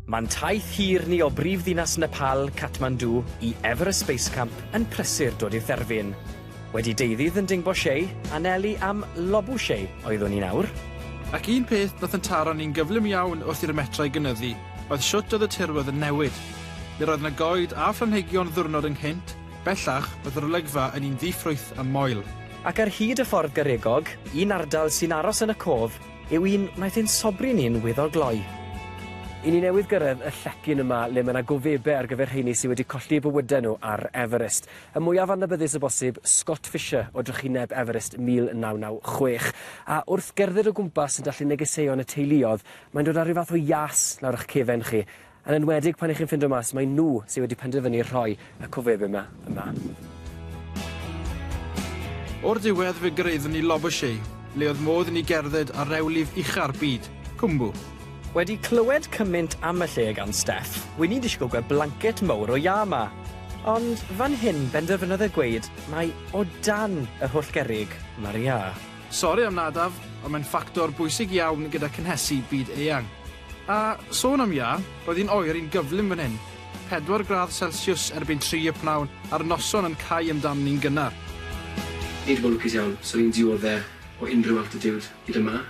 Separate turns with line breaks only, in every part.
Mae'n taith hir ni o brif ddinas Nepal, Kathmandu, i Everest Space Camp yn prysur dod i'r therfyn. Wedi deuddydd yn Dingbo Shei, anelu am Lobu Shei oeddwn i'n awr. Ac un peth
nath yn taro ni'n gyflym iawn wrth i'r metrau gynyddu. oedd shwt oedd y tirwedd yn newid. Yr oedd 'na goed a phlanhigion ddiwrnod ynghynt, bellach, oedd yr olygfa yn un ddi-ffrwyth a moel. Ac ar hyd y
ffordd garegog, un ardal sy'n aros yn y cof yw un wnaeth ein sobri ni'n weddol gloi. I ni
newydd gyrraedd y llecyn yma le mae 'na gofebe ar gyfer rheini sy wedi colli eu bywydau nhw ar Everest. Y mwyaf annabyddus o bosib, Scott Fisher o drychineb Everest 1996. A wrth gerdded o gwmpas yn dallu negeseuon y teuluodd Mae'n dod â rhyw fath o ias lawr ych cefen chi, yn enwedig pan 'y chi'n ffindo mas mai nhw sy wedi penderfynu rhoi y cofebyn 'ma yma.
O'r diwedd fe gyrraeddwn ni Labouchet, le oedd modd i ni gerdded ar rewlif ucha'r byd, Cwmbu. Wedi
clywed cymynt am y lle gan Steff, wi 'di disgwyl gweld blancet mowr o iâ 'ma. Ond fan hyn benderfynodd e gweud mai o dan yr holl gerrig ma'r iâ. Sori am
nadaf, ond mae'n ffactor bwysig iawn gyda cynhesu byd eang. A sôn am iâ, roedd hi'n oer yn gyflym fan hyn, pedwar gradd selsiws erbyn tri y pnawn a'r noson yn cau amdani'n gynnar. Nid
mor lwcus iawn, swn i'n diodde o unrhyw altitude hyd yma.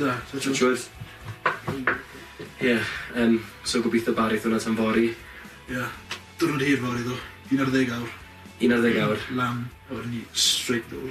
Na, twtsh
wood. Twtsh
wood. Ie, yym, so gobeithio barith hwnna tan fory. Ie,
diwrnod hir fory ddo, un ar ddeg awr. Un ar ddeg awr?
Lan a wedyn ni
straight nôl.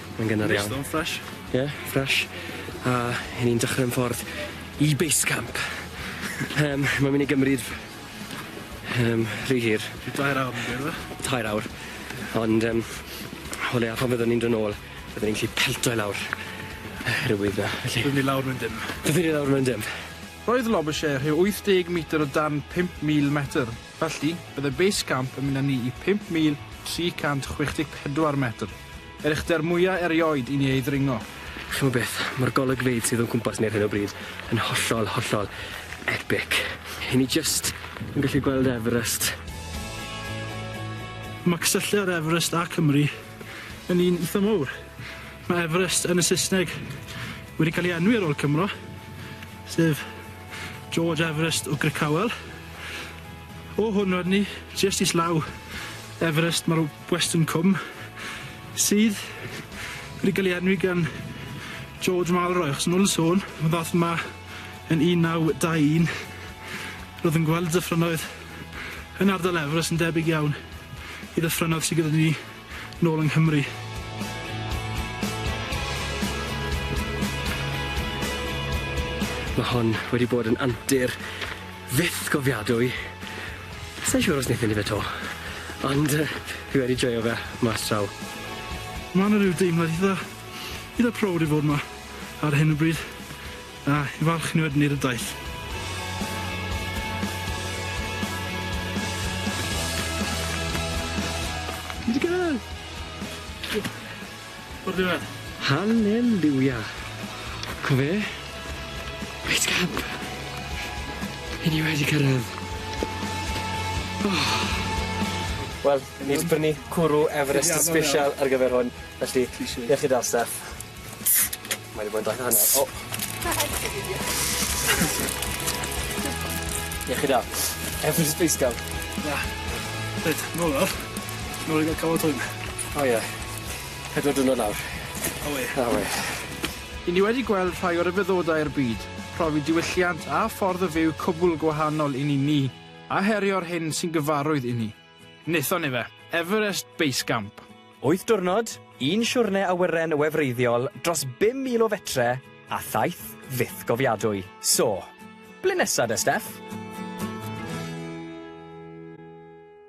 Mae'n gynnar iawn. Neis
ddo, fresh. Ie,
fresh. A 'yn ni'n dechre 'yn ffordd i base camp. Yym mae'n myn' i gymryd yym rhy hir. Rhyw dair awr fi'n
credu yfe? Tair awr.
Ond yym o leia pan fyddwn ni'n do' nôl byddwn ni'n gallu pelto i lawr yr wydd 'na felly. Byddwn ni lawr mewn dim.
Byddwn ni lawr mewn dim.
Roedd Lobushare
rhyw 80 metr o dan 5,000 metr, felly byddai base camp yn mynd â ni i 5,364 metr. Yr uchder mwya erioed i ni ei ddringo. Ch'mo' beth,
ma'r golygfeydd sydd o'n cwmpas ni ar hyn o bryd yn hollol, hollol epic. 'yn ni jyst yn gallu gweld Everest.
Ma' cysylltiad Everest a Cymru yn un itha mowr. Ma' Everest yn y Saesneg wedi cael ei enwi ar ôl Cymro, sef George Everest o Grickhowell. O hwn Rodney, jyst islaw Everest mae'r Western Cwm sydd wedi cael ei enwi gan George Malroy achos yn ôl yn sôn, mae ddath yma yn 1921 roedd yn gweld y dyffrynnoedd yn ardal Everest yn debyg iawn i ddyffrynnoedd sydd gyda ni Nôl yng Nghymru.
Mae hon wedi bod yn antur fyth gofiadwy. Sai'n siŵr os neith mynd i fe to. Ond yy fi wedi joio fe mas draw. Ma' 'na
ryw deimlad itha itha prowd i fod 'ma ar hyn o bryd. A i falch ni wedyn i'r ydoedd. Ni di cyrraedd! O'r ddiwedd. Halleliwia!
Co fe? Reit camp. I ni wedi cyrraedd. Oh. Wel, ni 'di prynu cwrw Everest yn sbesial ar gyfer hwn, felly, iechyd da staff. Mae 'di bod yn glatio fyny. O! Diolch i Dad. Every Space Scout. Na.
Reit, nôl nawr. Nôl i ga'l cafod hwn. O ie.
Pedwar diwrnod nawr. Awe. Awe. Ry'
ni wedi gweld rhai o ryfeddodau'r byd, profi diwylliant a ffordd o fyw cwbwl gwahanol i ni ni, a herio'r hyn sy'n gyfarwydd i ni. Wnaethon ni fe! Everest Base Camp. Wyth diwrnod,
un siwrne awyren wefreiddiol dros 5,000 o fetre a thaith fyth gofiadwy. So, ble nesa de Steff?